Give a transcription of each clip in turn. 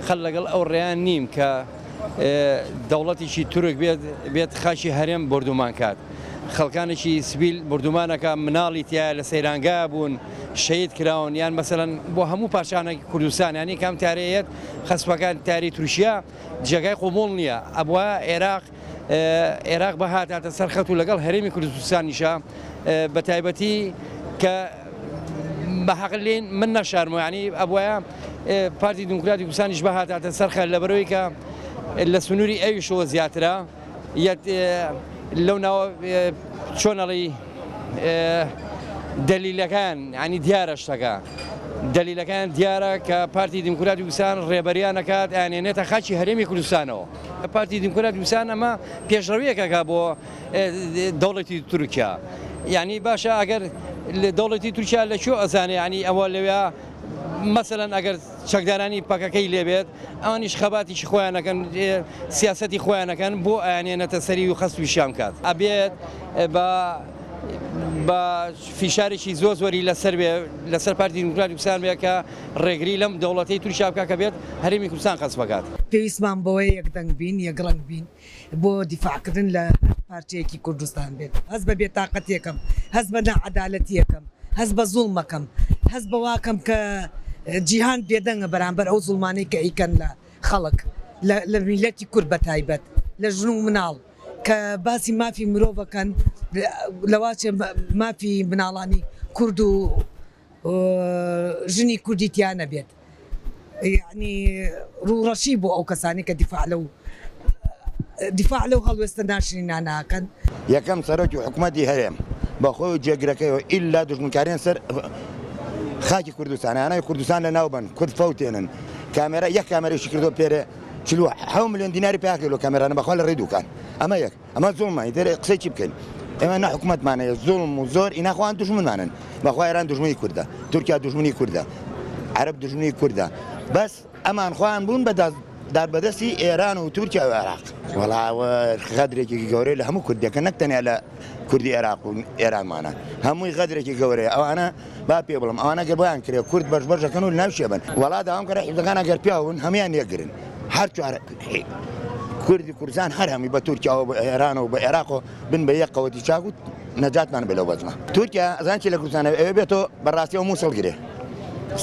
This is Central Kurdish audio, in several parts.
خەر لەگەڵ ئەو ڕێیە نیم کە دەوڵەتیکی تورک بێت بێت خاکی هەرێم بۆردومان کات خەڵکانێکی سبیل بردومانەکە مناڵی تیا لە سەیرانگا بوون شەید کراون یان مەسەن بۆ هەموو پاشانێکی کوردستان ینی کام تارەیەت خەسپەکان تاری تورکیا جێگای قوبول نییە ئەبووە عێراق عێراق بە هاتاتە سەر خەت و لەگەڵ هەرێمی کوردستانیشە بە تایبەتی کە بە حەقلین من نەشارمۆیانی ئەبواە پارتی دموکراتی کوردستانیش بە هاتاتە سەرخە لە بەرەوەی کە لە سنووری ئەویشەوە زیاترە لەو ناوە چۆنەڵی دەلیلەکان ینی دیارە شتەکە دەلیلەکان دیارە کە پارتی دیموکراتی وسان ڕێبەریانەکات ئەنێنێتە خاچی هەرێمی کوردستانەوە پارتی دیموکرات وسان ئەمە پێشڕەویەکەکە بۆ دەوڵەتی تورکیا یعنی باشە ئەگەر لە دەوڵەتی تورکیا لە چۆ ئەزانێ ینی ئەوە لەوێ مەسەەن ئەگەر چەکدارانی پەکەکەی لێبێت ئەوانیش خەباتیشی خۆیانەکەن سیاستی خۆیانەکەن بۆ ئەیانێنەتە سەری و خەست ویشیان کات ئەبێت بە بە فیشارێکی زۆر زۆری لەسەر بێ لەسەر پارتی دیموکرات وسان بێ کە ڕێگری لەم دەوڵەتەی تورکیا بکات کە بێت هەرێمی کوردستان قەست بکات. پێویستمان بەوەیە یەک دەنگ بین، یەک ڕەنگ بین بۆ دیفاع کردن لە هەر پارچەیەکی کوردستان بێت. هەست بە بێتاقەتیەکەم، هەست بە ناعەدالەتیەکەم، هەست بە زوڵمەکەم، هەست بەواکەم کە جیهان بێدەنگە بەرامبەر ئەو زوڵمانەی کە ئەیکەن لە خەڵک، لە میللەتی کورد بە تایبەت لە ژن و مناڵ کە باسی مافی مرۆڤ ئەکەن لەواچێ مافی مناڵانی کورد و ژنی کوردی تیا نەبێت یەعنی ڕووڕەشی بۆ ئەو کەسانەی کە دیفاع لەو دیفاع لەو هەڵوێستە ناشرینە ناکەن. یەکەم سەرۆکی حکومەتی هەرێم بە خۆی و جێگرەکەیەوە ئیلا دوژمنکاریان سەر خاکی کوردستان یانەوەی کوردستان لە ناوبەن کورد فەوتێنن کامێرا یەک کامێرەی شکردۆ پێرێ چلوە حەو ملیۆن دیناری پیاکەی لۆ کامێرانە بەخوا لە ڕێی دووکان ئەمە یەک ئەمە زوڵمە ئیتر قسەی چی بکەین ئێمە نە حکومەتمان هەیە زوڵم و زۆر ئینا خۆیان دوژمنانن بەخوا ئێران دوژمنی کوردە تورکیا دوژمنی کوردە عەرەب دوژمنی کوردە بەس ئەمان خۆیان بوون بە دادبەدەستی ئێران و تورکیا و عێراق وەڵاوە غەدرێکی گەورەی لە هەموو کوردەکە نەک تەنیا لە کوردی عێراق و ئێرانمانە هەمووی غەدرێکی گەورەیە ئەوانە با پێ بڵێم ئەوانە گەر بۆیان کرێ کورد بەش بەش دەکەن و ناو شێ بن وەڵا داوام کەرە حیزەکان ئەگەر پیاون هەموان یەکگرن هەر چوار کوردی کوردستان هەر هەمی بە تورکیاەوە بە ئێران و بە عێراق و بن بە یەک قەوەتی چاک و نەجاتمان بێ لەو بەزمە تورکیا زانکی لە کوردستانە ئەوێ بێتەوە بەڕاستیەوە مووسڵ گرێ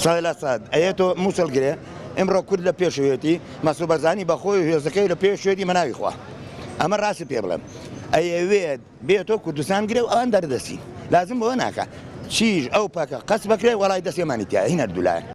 سای لە ساد ئەیەێتۆ مووسڵ گرێ ئمڕۆ کورد لە پێشوێتی مەسوبەرزانی بەخۆی هێزەکەی لە پێشێتی مەناوی خوا ئەمە ڕاستی پێ بڵێم ئەیەوێت بێ تۆ کوردستان گرێ و ئەوان دەردەچین لازم بەوە ناکا چیژ ئەو پەکە قەچ بەکرێ وەڵای دەسێمانی تیایە هین هەردوو لایە.